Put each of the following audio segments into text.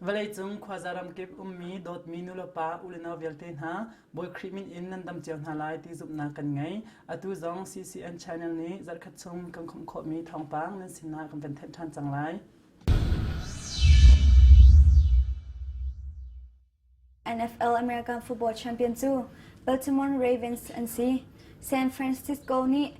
Vawleicung khuaza ramkip ummi dawtmi nulepa uneno vialte hna Bawi Khrih min in nan dam cio hna lai ti zumhnak kan ngei. Atu zong CCN Channel nih zarhkhat chung kan khumh khawhmi thawngpang nan sinah kan van thanh ṭhan cang lai. NFL America football champion cu Baltimore Ravens an si. San Francisco nih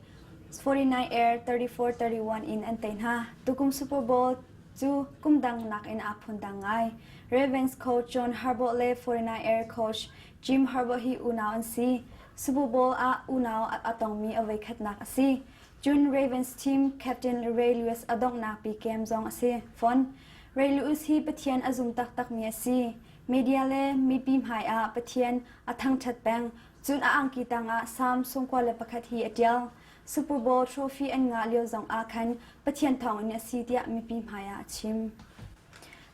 49 er 34-31 in an tei hna. Tukum Super Bowl cu kum dang nakin aa phundang ngai. Ravens coach John Harbaugh le 49 er coach Jim Harbaugh hi unau an si. Super Bowl ah unau a tongmi a voikhatnak a si. Cun Ravens team captain Ray Lewis a donghnak pi kem zong a si fawn. Rel us hi Pathian a zum taktakmi a si. Media le mipi hmaiah Pathian a thangṭhat peng. Cun a angki tangah Salm sungkua le pakhat hi a ṭial. Super Bowl trophy an ngah lio zongah khan Pathian thawngin a si tiah mipi hmaiah a chim.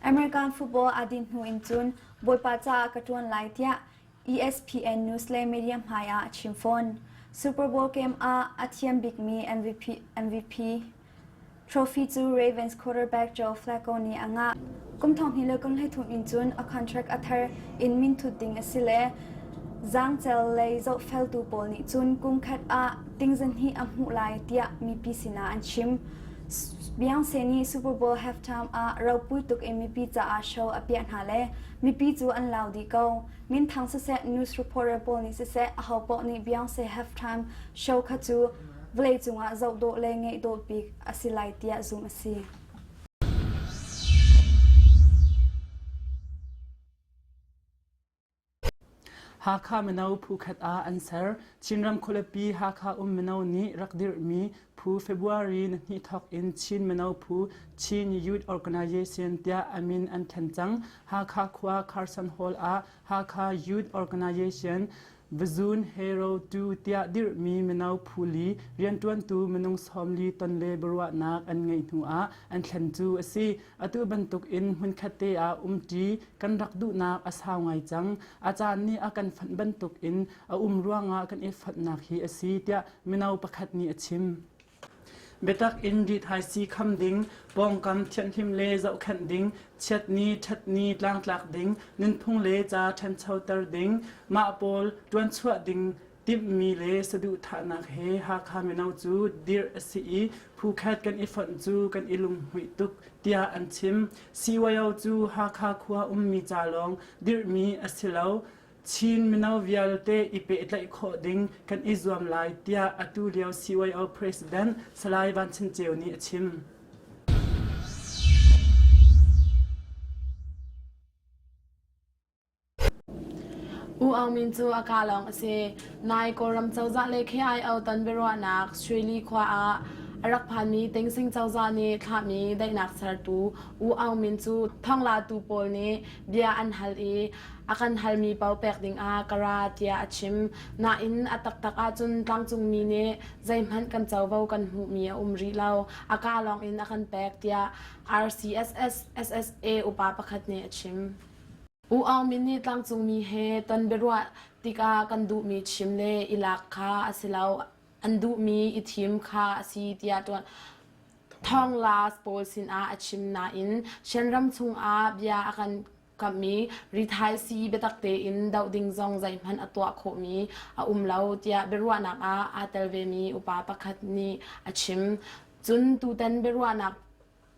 American football aa din hnu in cun Bawipa caah ka ṭuan lai tiah ESPN news le media hmai ah a chim fawn. Super Bowl game ah a thiam bikmi MVP, MVP trophy cu Ravens quarterback Joe Flacco nih a ngah. Kum thong hi le kum hlei thum in cun a contract a thar in min thut ding a si le zangcel lei zohfeltu pawl nih cun kum khat ah tingzan hi a hmuh lai tiah mipi sinah an chim. Beyonce nih Super Bowl halftime ah ropui tuk in mipi caah show a piah hna le Mipi cu an lau dih ko. Minthang siseh, news reporter pawl nih siseh, ahopoah nih Beyonce Have Time show kha cu vawleicung ah zoh dawh le ngeih dawh bik a si lai tiah zumh a si. Hakha mino phu khat ah an ser. Chinram khualipi Hakha um mino nih rak dirhmi phu February ni hnih thawk in Chin mino phu Chin Youth Organization tiah a min an thlen cang. Hakha khua Carson Hall ah Hakha Youth Organization Vazun Hero 2 tiah dirhmi mino phu li rianṭuantu minung sawm li ton le biaruahnak an ngeih hnu ah an thlen cu a si. Atu bantukin hmunkhatte ah umṭi kan rak duhnak a sau ngai cang. A caan nih a kan fonh bantukin a um ruangah kan i fonhnak hi a si tiah mino pakhat nih a chim. Biatak in ri thaisii kham ding, pawngkam thianhlim le zohkhenh ding, chiatni, ṭhatni tlangtlak ding, nunphung le ca ṭhanchoter ding, mah pawl ṭuan chuah ding Timhmi le saduhthahnak he Hakha mino cu dirh a si i phuket kan i fonh cu kan i lunghmuih tuk tiah an chim. CYO cu Hakha khua ummi ca lawng dirhmi a si lo. Chin mino vialte i pehtlaih khawh ding kan i zuam lai tiah atu lio CYO President Salai Van Chin Ceu nih a chim. U Aung Min cu a kaa lawng a si. Nai Kawlram cozah le KIO-tan biaruahnak Shweli khua ah a rak phanmi Tengsing cozah nih thlahmi daihnak sertu U Aung Min cu thawnglatu pawl nih bia an hal i a kan halmi paoh pek dingah ka ra tiah a chim. Nain a taktak ahcun tlangcungmi nih zeihmanh kan covo kan hmuhmi a um rih lo. A kaa lawngin a kan pek tiah RCSS SSA upa pakhat nih a chim. U Aung Min nih tlangcungmi he ton biaruah tikah kan duhmi chim le i lak kha a si lo. An duhmi i thim kha a si tiah tuan thawngla pawl sinah a chim nain Shan ram chungah bia a kan kamhmi rithaisi biatak tein doh ding zong zeihmanh a tuah khawhmi a um lo tiah biaruahnak ah aa tel vemi upa pakhat nih a chim. Cun tutan biaruahnak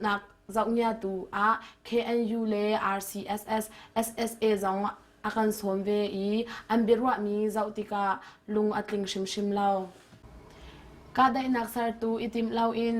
nak zohniatu ah KNU le RCSS SSA zong a kan sawm ve i an biaruahmi zoh tikah lung a tling hrimhrim lo. Kahdaihnak sertu i timh loin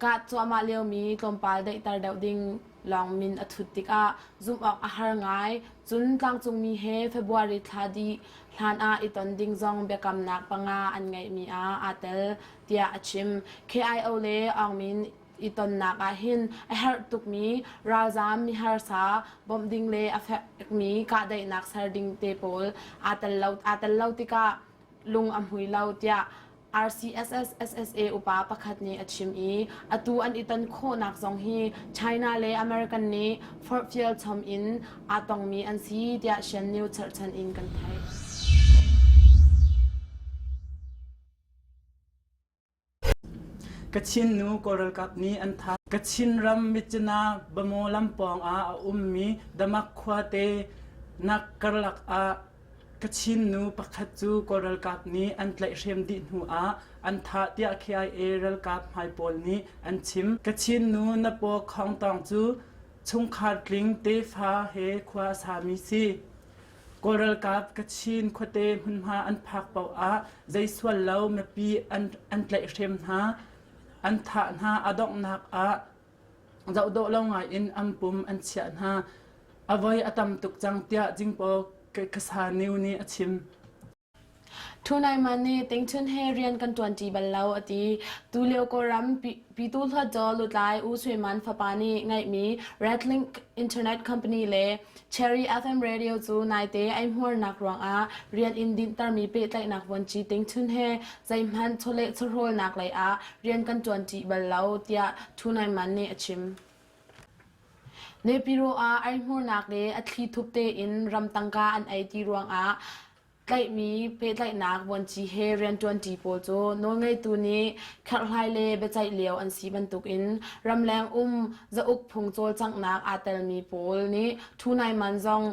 kah cuahmah liomi tlawmpal daihter deuh ding lawng min a thut tikah zumh awk a har ngai cun tlangcungmi he February thla dih hlan ah i ton ding zong biakamnak panga an ngeihmi ah aa tel tiah a chim. KIO le Aung Min i tonnak ahhin a herh tukmi ralzaam miharsa bawmh ding le a fekmi kahdaihnak ser ding te pawl aa tel lo aa tel lo tikah lung a hmui lo tiah RCSS SSA upa pakhat nih a chim i atu an i ton khawhnak zong hi China le American nih forhfial chom in aa tongmi an si tiah Shen News cherhchan in kan theih. Kachin ram Mitcina Bamaw lam pawngah a ummi Damak khuate nak karlak ah Kachin nu pakhat cu Kawl ralkap nih an tlaihhrem dih hnuah an thah tiah KIA ralkap hmai pawl nih an chim. Kachin nu na paw Khawngtawng cu chungkhar tling tefa he khua a sami si. Kawl ralkap Kachin khuate hmunhma an phak paoh ah zei sual lo mipi an, an tlaihhrem hna, an thah hna, a donghnak ah zoh dawh lo ngai in ampum an chiah hna. A voi a tam tuk cang tiah Jingpaw Kasa New nih a chim. Thunaiman nih Tingchun he rian kan ṭuanṭi bal lo a ti. Tulio Kawlram pi- pitu hluatdaw lutlai U Sui Man fapa nih ngeihmi Redlink Internet Company le Cherry FM Radio cu naite eihmuarnak ruangah rian in dinhtermi pehtlaihnak vuanci Tingchun he zeihmanh chawleh chawhrawlnak leiah rian kan ṭuanṭi bal lo tiah Thunaiman nih a chim. Nepiro ah eihmurnak le a thli thup tein ram tangka an ei ti ruangah tlaihmi pehtlaihnak vuanci he rianṭuanṭi pawl cu nawlngeitu nih kherhlai le biaceih lio an si bantukin ramleng um zauk phung cawlcanghnak aa telmi pawl nih ṭhu nai man zong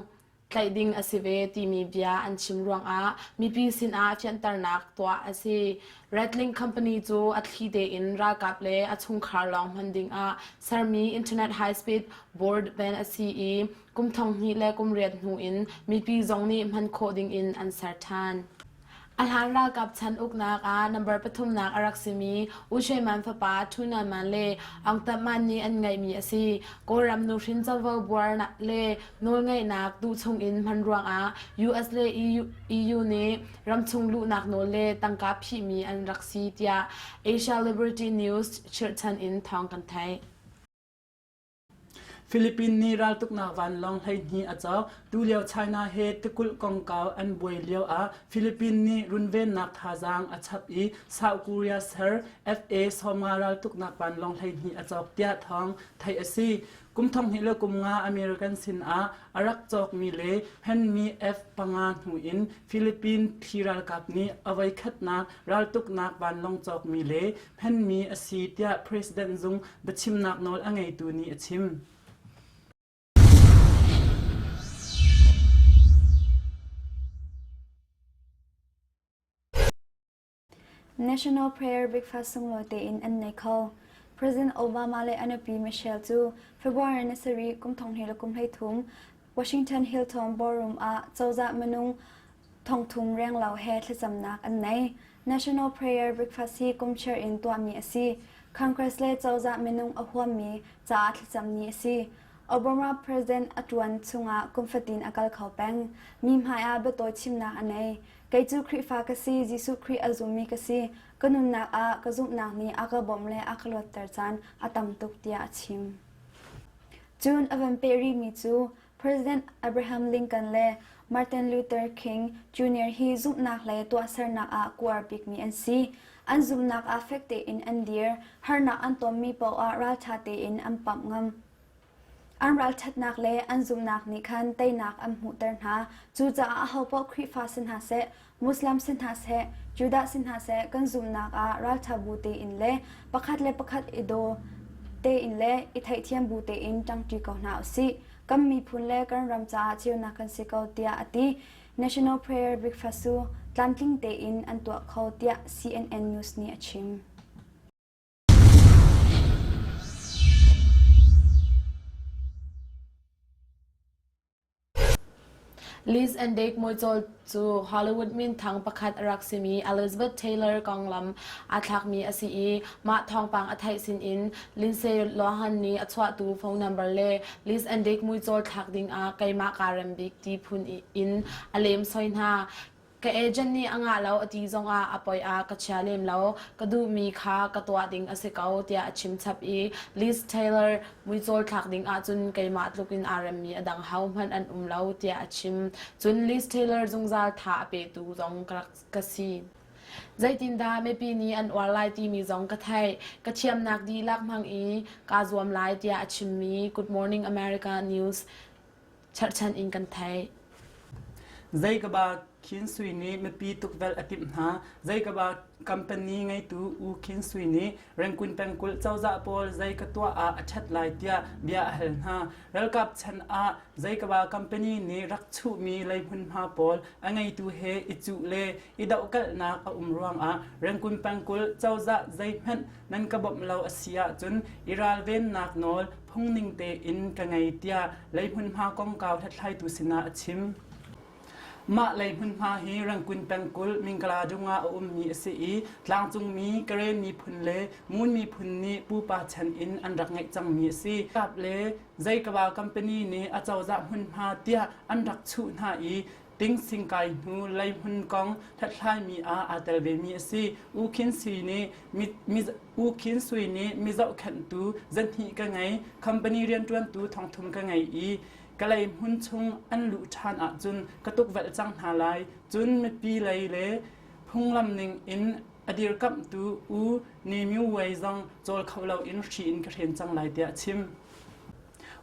tlaih ding a si ve timi bia an chim ruangah mipi sinah fianternak tuah a si. Ratling company cu a thli tein ralkap le a chungkhar lawng hman dingah sermi internet high speed broadband a si i kum thong hnih le kum riat hnu in mipi zong nih hman khawh dingin an ser ṭhan. A hlan ralkap chan uknak ah number pathumnak a rak simi U Shwe Man fapa Thu Na Man le Aung Tam Man nih an ngeihmi a si. Kawlram nuhrin covo buar le nawlngeihnak tuhchung in hman ruangah US le EU nih ramchung luhnak nawl le tangka phihmi an rak si tiah Asia Liberty News chirhchan in thawng kan theih. Philippines nih raltuknak vanlawng hleihnih a cawk. Tulio China he tikulh kongkau an buai lio ah Philippines nih runvennak thazaang a chap i South Korea ser FA Soma raltuknak vanlawng hleihnih a cawk tiah thawng theih a si. Kum thonghnih le kum nga American sin ah a rak cawkmi le hmanmi F panga hnu in Philippines phi ralkap nih a voikhatnak raltuknak vanlawng cawkmi le hmanmi a si tiah President zung biachimnak nawl a ngeitu nih a chim. National Prayer Breakfast sunglaw tein an nei kho. President Obama le anapi Michelle cu February ni sarih kum thong he la kum hlei thum Washington Hilton Ballroom ah cozah minung thongthum renglo he thlacamnak an nei. National Prayer Breakfast hi kumchair in tuahmi a si. Congress le cozah minung a huammi caah thlacam ni a si. Obama President a tuan chungah kumfatin a kal kho peng. Mi hmai ah biatawi chimnak a nei. Kei cu Khrihfa ka si, Jesuh Khrih a zummi ka si. Ka nunnak ah ka zumhnak nih a ka bawmh le a ka luatter caan a tam tuk tiah a chim. Cun a van peh rihmi cu President Abraham Lincoln le Martin Luther King Jr. hi zumhnak le tuahsernak ah kuar bikmi an si. An zumhnak ah fek tein an dir, harnak an tonmi paoh ah ralṭha tein an pamh ngam. An ralṭhatnak le an zumhnak nih khan teinak an hmuhter hna. Cucaah ahopaoh Khrihfa si hna seh, Muslim si hna seh, Judah si hna seh, kan zumnak ah ralṭhabu tein le pakhat le pakhat i daw tein le i theihthiam bu tein ṭangṭi ko hna u sih. Kan miphun le kan ram caah ceunak kan si ko tiah a ti. National Prayer Breakfast cu tlamtling tein an tuah kho tiah CNN News nih a chim. Liz and Dave muicawl cu Hollywood minthang pakhat a rak simi Elizabeth Taylor konglam aa thlakmi a si i mah thawngpang a theih sinin Lindsay Lohan nih a chuahtu phone number le Liz and Dave muicawl thlak dingah keimah kaa rem bik ti phun in a lem soi hna. Ka agent nih a ngah lo a ti zongah a poi ah ka chia lem lo, ka duhmi kha ka tuah ding a si ko tiah a chim chap i Liz Taylor muicawl thlak ding ahcun keimah tluk in aa remmi a dang hohmanh an um lo tiah a chim. Cun Liz Taylor zungzal tha a petu zong ka rak ka si. Zeitindah mipi nih an uar lai timi zong ka theih. Ka thiamnak dihlak hmang i kaa zuam lai tiah a chimmi Good Morning America News Cherhchan in kan theih. Zeikaba Khin Sui nih mipi tukvelh a timh hna. Zeikaba company ngeitu U Khin Sui nih Rengkun pengkulh cozah pawl zei ka tuah ah a ṭhat lai tiah bia a hal hna. Ralkap chan ah Zeikaba company nih rak chuhmi lei hmunhma pawl a ngeitu he i cuh le i dohkalhnak a um ruangah Rengkun pengkulh cozah zeihmanh nan ka bawmh lo a si ahcun i ralvennak nawl phungning tein ka ngei tiah leihmunhma kongkau hlathlaitu sinah a chim. Mah leihmunhma hi Rangkun pengkulh Mingkaladung ah a ummi a si i tlangcungmi Karen miphun le Ngun miphun nih pupa chan in an rak ngeih cangmi a si. Kap le Zeikaba company nih a cozah hmunhma tiah an rak chuh hna i Tingsing kai hnu lei hmun kong hlathlaimi ah aa tel vemi a si. U Khin Sui nih U Khin Sui nih mi zohkhenhtu zahnih ka ngei, company rianṭuantu thongthum ka ngei i kalay hmun chung an luh ṭhan ahcun ka tukvelh cang hna lai. Cun mipi lei le phunglam ning in a dirkamhtu U Ne Myo Wei zong cawl kho loin hri in ka hren cang lai tiah a chim.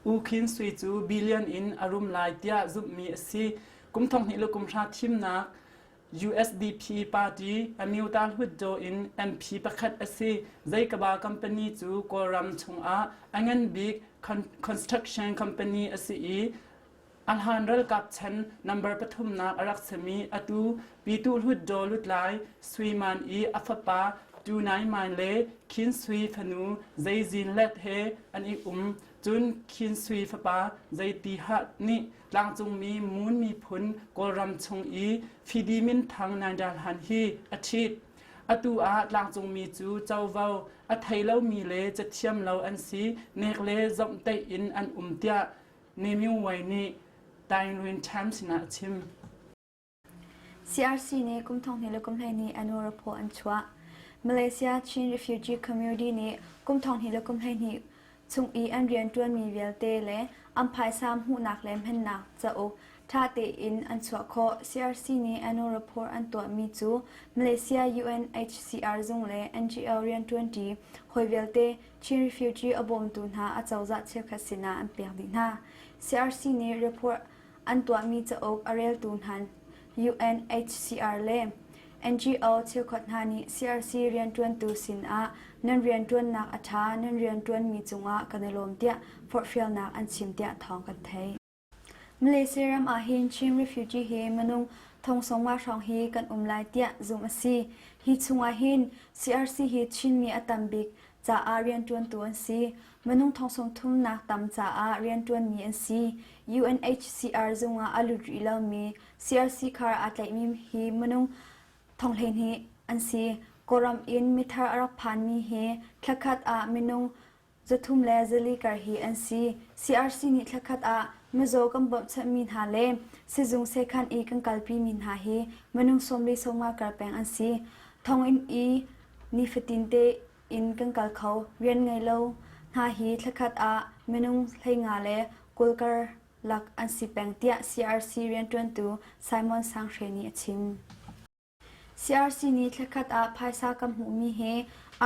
U Khin Sui cu billion in a rum lai tiah zumhmi a si. Kum thonghnih le kum hra thimnak USDP party Amyota Hluttaw in MP pakhat a si. Zeikaba company cu Kawlram chungah a ngan bik construction company a si i Ahlan ralkap chan number pathumnak a rak simi atu Pyituh Hlutdaw Lutlai Sui Man i a fapa Tu Nai Man le Khin Sui fanu Zei Zin Let he an i um. Cun Khin Sui fapa Zei Ti Hat nih tlangcungmi Moon miphun Kawlram chung i Fidi Min Thang Naidal Han hi a ṭhit. Atu ah tlangcungmi cu covo a thei lomi le cathiam lo an si nek le zomh teih in an um tiah Nemyungway nih Tainlwin Times sinah a chim. CRC nih kum thong hnih le kum hlei nih annual report an chuah. Malaysia Chin Refugee Community nih kum thong hnih le kum hlei hnih chung i an rian ṭuanmi vialte le an phaisa hmuhnak le hmannak cauk ṭha tein an chuah khawh. CRC nih annual report an tuahmi cu Malaysia UNHCR zung le NGO rianṭuanṭi hawi vialte Chin refugee a bawmtu hna a cozah cheukhat sinah an pek dih hna. CRC nih report an tuahmi cauk a reltu hna UNHCR le NGO cheukhat hna nih CRC rianṭuantu sinah nan rianṭuannak a ṭha nan rianṭuanmi cungah kan i lawm tiah forhfialnak an chim tiah thawng kan theih. Malaysia ram ahhin Chin refugee hi minung thongsawma hrawng hi kan um lai tiah zumh a si. Hi chungah hin CRC hi Chinmi a tam bik caah rianṭuantu an si. Minung thongsawm thumnak tam caah rianṭuanmi an si. UNHCR zungah a lut rih lomi CRC khar aa tlaihmi hi minung thong hleihnih an si. Kawlram in mithar a rak phanmi hi thlakhat ah minung Zathum le zali kar hi an si. CRC nih thlakhat ah mizaw kan bawmhchanhmi hna le sizung sekhan i kan kalpimi hna hi minung sawm le sawmnga kar peng an si. Thonginn i nifatin te in kan kal kho. Rian ngei lo hna hi thlakhat ah minung hleinga le kawlkar lak an si peng, tiah CRC rianṭuantu Simon Sang Hre nih a chim. CRC nih thlakhat ah phaisa kan hmuhmi he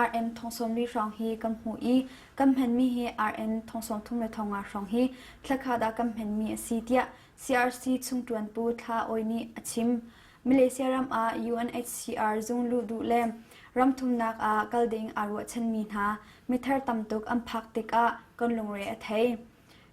RM thongsawm li hrawng hi kan hmuh i kan hmanmi he RM thongsawm thum le thonga hrawng hi thlakhat ah kan hmanmi a si tiah CRC chungṭuanpu Thla Awi nih a chim. Malaysia ram ah UNHCR zung luh duh le ramthumnak ah kal ding aa ruahchanmi hna mithar tam tuk an phak tikah kan lungre a thei.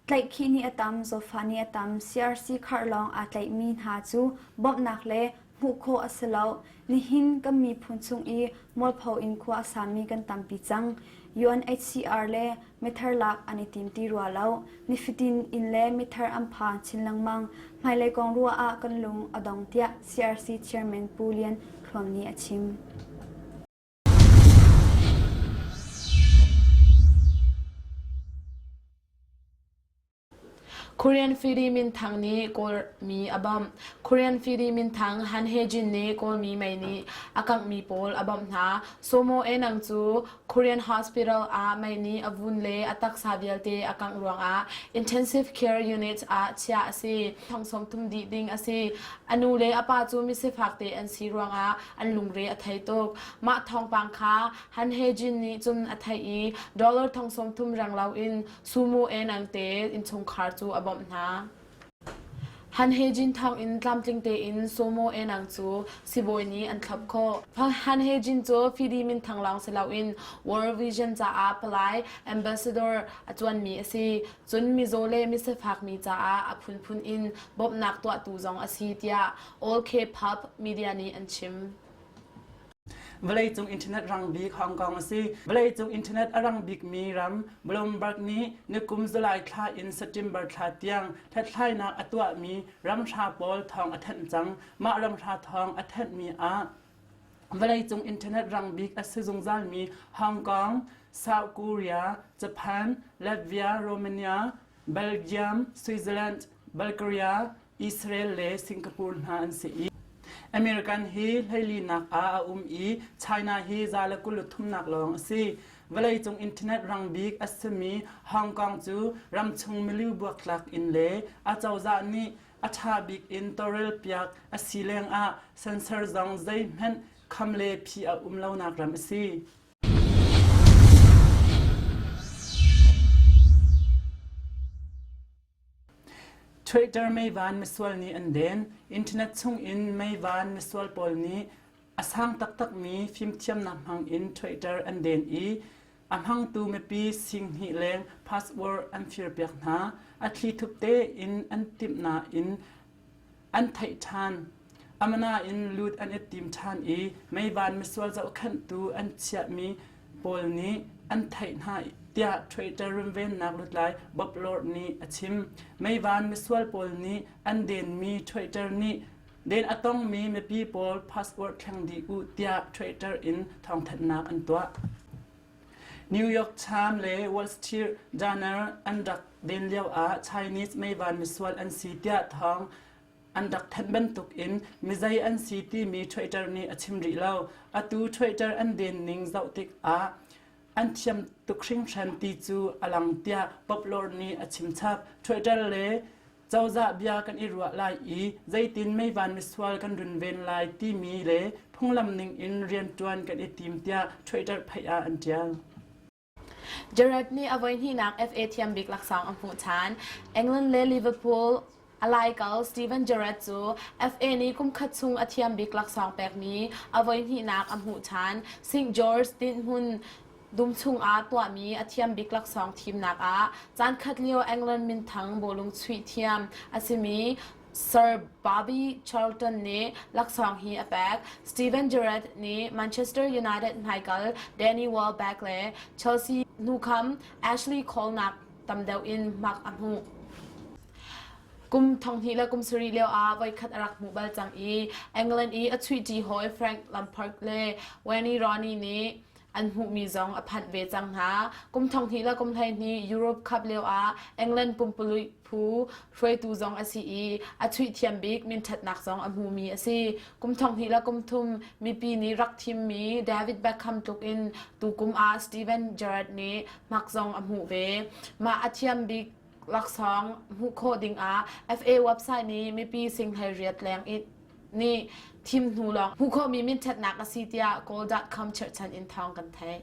Tlaihkhih nih a tam, zawtfah nih a tam, CRC khar lawng aa tlaihmi hna cu bawmhnak le hmuh khawh a si loh. Nihin kan miphun chung i mualpho in khua a sami kan tampi cang. UNHCR le mithar lak an i tim ti rua lo. Nifatin inn le mithar an phan chin lengmang. Hmailei kong ruah ah kan lung a dong tiah CRC chairman Pu Lian Thluam nih a chim. Korean fidi minthang nih Kawlmi a bawmh. Korean fidi minthang Han Hye-jin nih Kawlmi mei nih a kanghmi pawl a bawmh hna. Somo Enang cu Korean hospital ah mei nih a vun le a taksa vialte a kangh ruangah intensive care units ah chiah a si. Thong sawm thum dih ding a si. A nu le a pa cu misifak te an si ruangah an lungre a thei tuk. Mah thawngpang kha Han He Jin nih cun a theih i dollar thong sawmthum reng loin Sumo Enangte innchungkhar cu a bawmh hna. Han He Jin thawngin tlamtling tein Sumo Enang cu sibawi nih an thlop khawh. Han He Jin cu fidi minthang lawng si loin World Vision caah palai ambassador a ṭuanmi a si. Cun mizaw le misafak mi caah a phunphun in bawmhnak tuahtu zong a si tiah All K-pop media nih an chim. Vawleicung internet rang bik Hong Kong a si. Vawleicung internet a rang bikmi ram Bloomberg nih nikum July thla in September thla tiang hlathlainak a tuahmi ramhra pawl thawng a thanh cang. Mah ramhra thawng a thenhmi ah vawleicung internet rang bik a si zungzalmi Hong Kong, South Korea, Japan, Latvia, Romania, Belgium, Switzerland, Bulgaria, Israel le Singapore hna an si i American hi hleilinak ah a um i China hi za le kul thumnak lawng a si. Vawleicung internet rang bik a simi Hong Kong cu ramchung milieu buaktlak in le a cozah nih a ṭha bik in tawrel piak a si lengah sensor zong zeihmanh kham le phi a um lonak ram a si. Twitter meivan misual nih an den. Internet chungin meivan misual pawl nih a sang taktakmi fimthiamnak hmangin Twitter an den i a hmangtu mipi singhnih leng password an firpiak hna. A thli thup tein an timh nain an theih ṭhan. Amana in lut an i tim ṭhan i meivan misual zohkhenhtu an chiahmi pawl nih an theih hna tiah Twitter runvennak lutlai Bob Lord nih a chim. Meivan misual pawl nih an denmi Twitter nih den a tongmi mipi pawl password thleng dih u tiah Twitter in thawngthanhnak an tuah. New York Times le Wall Street Journal an rak den lioah Chinese meivan misual an si tiah thawng an rak thanh bantuk in mizei an si timi Twitter nih a chim rih lo. Atu Twitter an denning zoh tikah an thiam tuk hringhran ti cu a lang tiah Poplar nih a chim chap. Twitter le Cozah bia kan i ruah lai i zeitin meivan misual kan runven lai timi le phunglam ning in rianṭuan kan i tim tiah Twitter phei ah an ṭial. Jared nih a voihnihnak FA thiam bik laksawng a hmuh ṭhan. England le Liverpool a laikal Steven Gerrard cu FA nih kumkhat chung a thiam bik laksawng pekmi a voihnihnak a hmuh ṭhan. St George dinhmun Dum chungah tuahmi a thiam bik laksawng thimnak ah caankhat lio England minthang bawlung chuih thiam a simi Sir Bobby Charlton nih laksawng hi a pek. Steven Gerrard nih Manchester United hmaikal Danny Welbeck le Chelsea hnukham Ashley Colnak tam deuh in hmak a hmuh. Kum thonghnih le kum sarih lio ah voikhat a rak hmuh bal cang i England i a chuihṭi hawi Frank Lampard le Wayne Rooney nih an hmuhmi zong a phanh ve cang hna. Kum thonghnih le kum hleihnih Europe Cup lioah England pumpululh phu hruaitu zong a si i a chuihthiam bik minṭhatnak zong a hmumi a si. Kum thonghnih le kum thum mipi nih rak thimmi David Beckham tluk in tukum ah Steven Gerrard nih hmak zong a hmuh ve. Mah a thiam bik laksawng hmuh khawh dingah FA website nih mipi singhlei riat leng in nih thim hnu lawng hmu khomi minṭhatnak a si tiah Kawl.com cherhchan in thawng kan theih.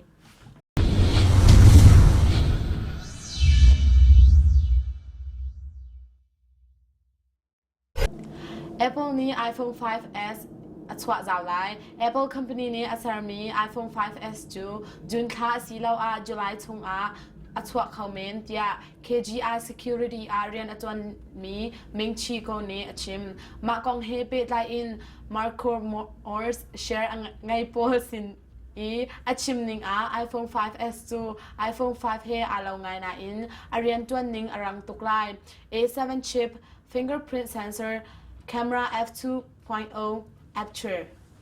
Apple nih iPhone 5s a chuahzau lai. Apple company nih a sermi iPhone 5s cu June thla asiloah July chung ah a chuah kho men tiah KGI security ah rian a ṭuanmi Mingchi Ko nih a chim. Mah kong he pehtlai in Marco Morse share a ngei pawl sin i a chim ning ah iPhone 5s cu iPhone 5 he aa lo ngai nain a rianṭuan ning a rang tuk lai. A7 chip, fingerprint sensor, camera f2.0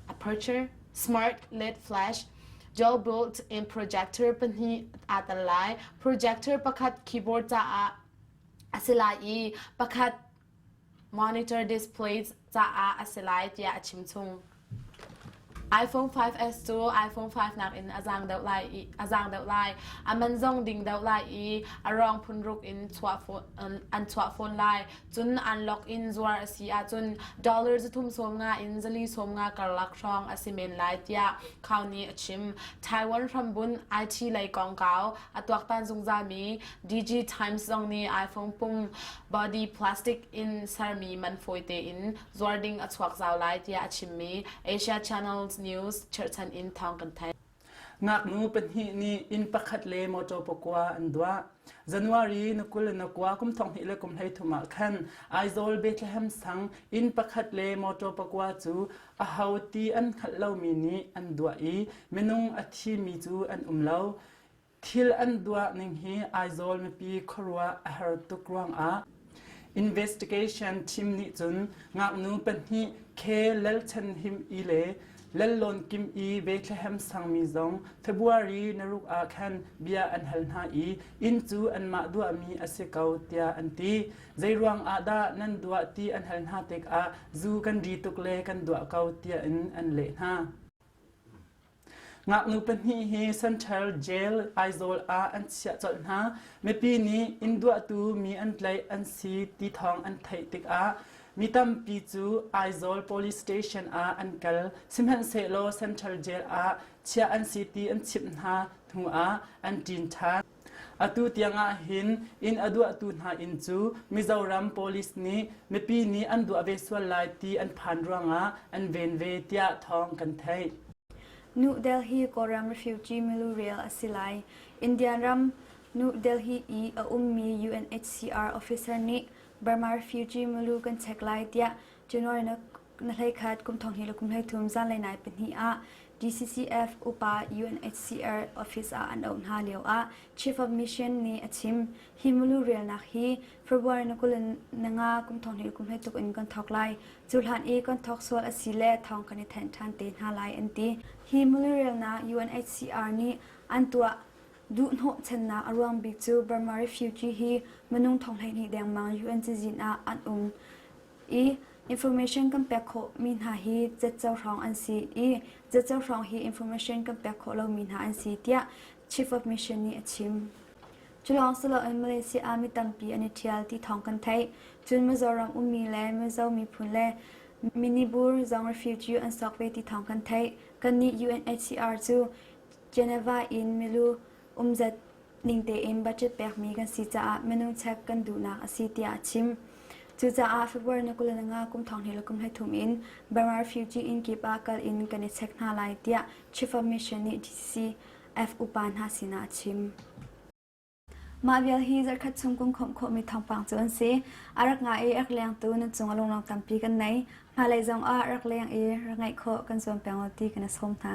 aperture, smart LED flash, Jawbot in projector pahnih aa tel lai. Projector pakhat keyboard caah a si lai i pakhat monitor displays caah a si lai tiah a chimchung. iPhone 5s cu iPhone 5 nakin a zaang deuh lai i a zaang deuh lai. A man zong ding deuh lai i a rang phun ruk in chuah fawn an chuah fawn lai. Cun an lok in zuar a si ahcun dollar zathum sawm nga in zali sawm nga karlak hrawng a si men lai tiah Khau nih a chim. Taiwan hrambun IT lei kongkau a tuaktan zungzalmi DG Times zong nih iPhone pung body plastic in sermi man fawite in zuar ding a chuak zau lai tiah a chimmi Asia Channels News cherhchan in thawng kan theih. Ngaknu pahnih nih inn pakhat le mawṭaw pakua an duah. January na kul na kua kum thong hnih le kum hlei thum ah khan Aizawl Bethlehem sang inn pakhat le mawṭaw pakua cu aho ti an hngalh lomi nih an duah i minung a thimi cu an um lo. Thil an duah ning hi Aizawl mipi khuaruah a har tuk ruangah investigation team nih cun ngaknu pahnih Khe Lal Chan Him I le Lal Lawn Kim I Bethlehem sangmi zong February naruk ah khan bia an hal hna i inn cu anmah duahmi a si ko tiah an ti zeiruang ah dah nan duah ti an hal hna tikah zu kan ri tuk le kan duah ko tiah in an leh hna Ngaknu pahnih hi Central Jail Aizawl ah an chiah colh hna. Mipi nih inn duahtu mi an tlaih an si ti thawng an theih tikah mi tampi cu Aizawl Police Station ah an kal. Sihmanhsehlaw Central Jail ah chiah an si ti an chimh hna hnu ah an ṭin ṭhan. Atu tiang ah hin inn a duahtu hna inn cu Mizoram Police nih mipi nih an duah ve sual lai ti an phan ruangah an ven ve tiah thawng kan theih. New Delhi Kawlram refugee milu rel a si lai. Indian ram New Delhi i a ummi UNHCR officer nih Burma refugee milu kan check lai tiah January na hleikhat kum thong hi le kum hleithum zanlei nai pahnih ah DCCF upa UNHCR office ah an auh hna lio ah Chief of Mission nih a chim hi mulu relnak hi February na kul nanga kum thong hi kum hlei tuk in kan thok lai cu hlan i kan thok sual a si le thong kan i then than te hna lai an ti hi mulu relna UNHCR nih an tuah duh hnawh channak a ruang bik cu Burma refugee hi manung thong hlei ni dengmang UN cizin ah an um i information kan pek khawh mi hna hi cetco hrawng an si i cetco hrawng hi information kan pek khawh lomi hna an si tiah chief of mission nih a chim culawng si loin malaysia army tampi an i ṭhial ti thawng kan theih cun mizoram ummi le mizo miphun le minibur zong refugee an sawk ve ti thawng kan theih kannih UNHCR cu Geneva in milu umzat ning tein budget pekmi kan si caah minung check kan duhnak a si tiah a chim. Cucaah February ni kul le nga kum thong hnih le kum hleithum in Burmar refugee inn kip ah kal in kan i check hna lai tiah Chief of Mission nih DCCF upa hna sinah a chim. Mah vial hi zarkhat chung kum khawm khawmi thawngpang cu an si. A rak nga i rak lengtu nun cung a lunglawng tampi kan nei. Hmalei zong ah rak leng i rak ngaih khawh kan zuam peng lo ti kan i sawm hna.